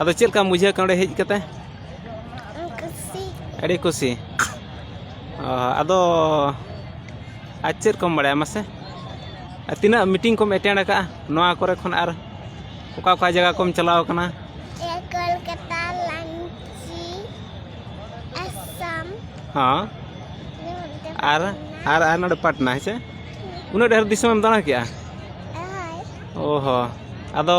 ᱟᱫᱚ ᱪᱮᱫ ᱞᱮᱠᱟᱢ ᱵᱩᱡᱷᱟᱹᱣ ᱠᱮᱫᱟ ᱚᱸᱰᱮ ᱦᱮᱡ ᱠᱟᱛᱮ ᱠᱩᱥᱤ ᱟᱹᱰᱤ ᱠᱩᱥᱤ ᱚ, ᱟᱫᱚ ᱟᱨ ᱪᱮᱫ ᱠᱚᱢ ᱵᱟᱲᱟᱭᱟ ᱢᱟᱥᱮ ᱟᱨ ᱛᱤᱱᱟᱹᱜ ᱢᱤᱴᱤᱝ ᱠᱚᱢ ᱮᱴᱮᱱᱰ ᱟᱠᱟᱜᱼᱟ ᱱᱚᱣᱟ ᱠᱚᱨᱮ ᱠᱷᱚᱱ ᱟᱨ ᱚᱠᱟ ᱚᱠᱟ ᱡᱟᱭᱜᱟ ᱠᱚᱢ ᱪᱟᱞᱟᱣ ᱠᱟᱱᱟ ᱮ ᱠᱳᱞᱠᱟᱛᱟ ᱞᱟᱱᱪᱤ ᱟᱥᱟᱢ ᱦᱚᱸ ᱟᱨ ᱟᱨ ᱟᱨ ᱱᱚᱰᱮ ᱯᱟᱴᱱᱟ ᱦᱮᱸ ᱥᱮ ᱩᱱᱟᱹᱜ ᱰᱷᱮᱨ ᱫᱤᱥᱚᱢᱮᱢ ᱫᱟᱬᱟ ᱠᱮᱜᱼᱟ ᱦᱳᱭ ᱚ ᱦᱚᱸ ᱟᱫᱚ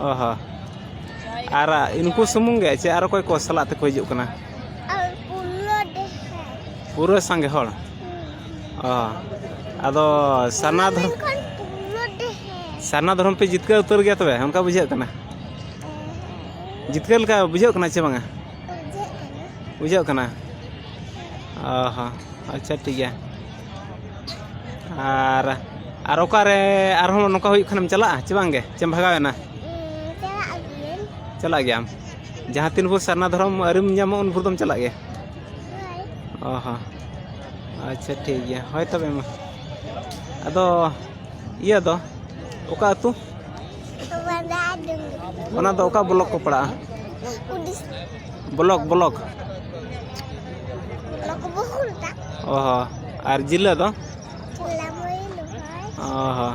ᱚ ᱦᱚᱸ ᱟᱨ ᱩᱱᱠᱩ ᱥᱩᱢᱩᱝ ᱜᱮ ᱥᱮ ᱟᱨ ᱚᱠᱚᱭ ᱠᱚ ᱥᱟᱞᱟᱜ ᱛᱮᱠᱚ ᱦᱤᱡᱩᱜ ᱠᱟᱱᱟ ᱯᱩᱨᱟᱹ ᱥᱟᱸᱜᱮ ᱦᱚᱲ ᱚ ᱟᱫᱚ ᱥᱟᱨᱱᱟ ᱫᱷᱚᱨᱚᱢ ᱥᱟᱨᱱᱟ ᱫᱷᱚᱨᱚᱢ ᱯᱮ ᱡᱤᱛᱠᱟᱹᱨ ᱩᱛᱟᱹᱨ ᱜᱮᱭᱟ ᱛᱚᱵᱮ ᱚᱱᱠᱟ ᱵᱩᱡᱷᱟᱹᱜ ᱠᱟᱱᱟ ᱡᱤᱛᱠᱟᱹᱨ ᱞᱮᱠᱟ ᱵᱩᱡᱷᱟᱹᱜ ᱠᱟᱱᱟ ᱪᱮ ᱵᱟᱝᱟ ᱵᱩᱡᱷᱟᱹᱜ ᱠᱟᱱᱟ ᱚ ᱦᱚᱸ ᱟᱪᱪᱷᱟ ᱴᱷᱤᱠ ᱜᱮᱭᱟ ᱟᱨ ᱟᱨ ᱚᱠᱟᱨᱮ ᱟᱨᱦᱚᱸ ᱱᱚᱝᱠᱟ ᱦᱩᱭᱩᱜ ᱠᱷᱟᱱᱮᱢ ᱪᱟᱞᱟᱜᱼᱟ ᱪᱮ ᱵᱟᱝᱜᱮ ᱪᱮᱢ ᱵᱷᱟᱜᱟᱣᱮᱱᱟ ᱪᱟᱞᱟᱜ ᱜᱮᱭᱟᱢ ᱡᱟᱦᱟᱸ ᱛᱤᱱ ᱵᱷᱳᱨ ᱥᱟᱨᱱᱟ ᱫᱷᱚᱨᱚᱢ ᱟᱹᱨᱤᱢ ᱧᱟᱢᱚᱜ ᱩᱱ ᱵᱷᱳᱨ ᱫᱚᱢ ᱪᱟᱞᱟᱜ ᱜᱮᱭᱟ ᱚ ᱦᱚᱸ ᱟᱪᱪᱷᱟ ᱴᱷᱤᱠ ᱜᱮᱭᱟ ᱦᱳᱭ ᱛᱚᱵᱮ ᱢᱟ ᱟᱫᱚ ᱤᱭᱟᱹ ᱫᱚ ᱚᱠᱟ ᱟᱹᱛᱩ ᱚᱱᱟ ᱫᱚ ᱚᱠᱟ ᱵᱞᱚᱠ ᱠᱚ ᱯᱟᱲᱟᱜᱼᱟ ᱵᱞᱚᱠ ᱵᱞᱚᱠ ᱚ ᱦᱚᱸ ᱟᱨ ᱡᱤᱞᱟᱹ ᱫᱚ ᱚ ᱦᱚᱸ